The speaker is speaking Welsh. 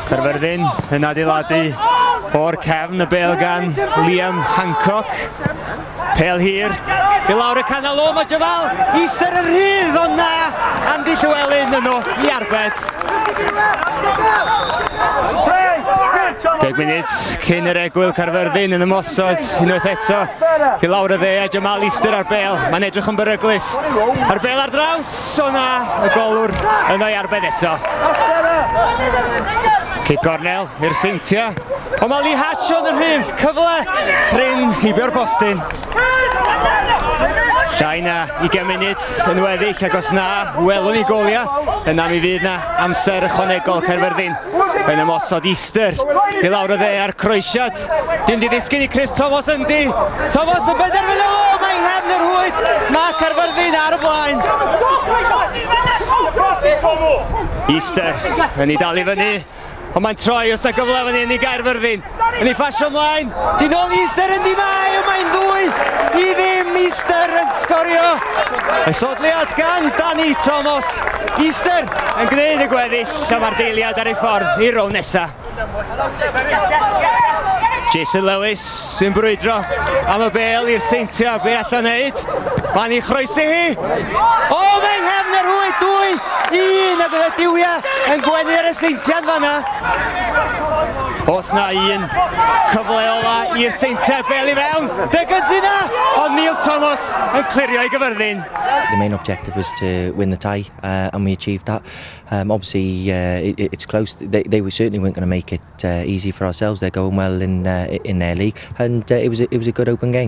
Perfyrddin yn adeiladu o'r cefn y bel gan Liam Hancock. Pel hir, i lawr y canol o, mae Jafal Easter y rhydd, ond na, Andy Llywelyn yno i arbed. Deg munud cyn yr egwyl Carfyrddin yn ymosod unwaith eto i lawr y dde a Jamal Easter ar bel. Mae'n edrych yn beryglus. A'r bel ar draws, o na, y golwr yno i arbed eto. Cyd gornel, Hirseintia, ond mae Lee Hatch yn y rhydd, cyfle prin heibio'r postyn. Llai na 20 munud yn weddill ac os na, welwn ni goliau, yna mi fydd na amser ychwanegol Caerfyrddin yn ymosod Easter i lawr y dde a'r croesiad. Dim di ddisgyn i Chris Thomas yn di. Thomas yn benderfynu, o, mae hefn yr hwyth, mae Caerfyrddin ar y blaen. Easter yn ei dal i fyny. Ond mae'n troi os na gyfle fan hyn i Gaerfyrddin. Yn ei ffasio ymlaen. Di nôl i Easter yn di mae. Ond mae'n ddwy i ddim. Easter yn sgorio. Esodliad gan Dani Thomas. Easter yn gwneud y gweddill. A mae'r deiliad ar ei ffordd i'r rown nesa. Jason Lewis sy'n brwydro am y bel i'r seintiau. Be allan neud? Pan i chroesi hi, o mae nghefn yr hwy dwy, un a gyda diwia yn gwenu'r eseintiad fanna. Os na un cyfle ola i'r seintiad bel i fewn, fe gynti na, o Neil Thomas yn clirio i gyfyrddin. The main objective was to win the tie uh, and we achieved that. Um, obviously uh, it, it's close, they, they were certainly weren't going to make it uh, easy for ourselves, they're going well in, uh, in their league and uh, it, was a, it was a good open game.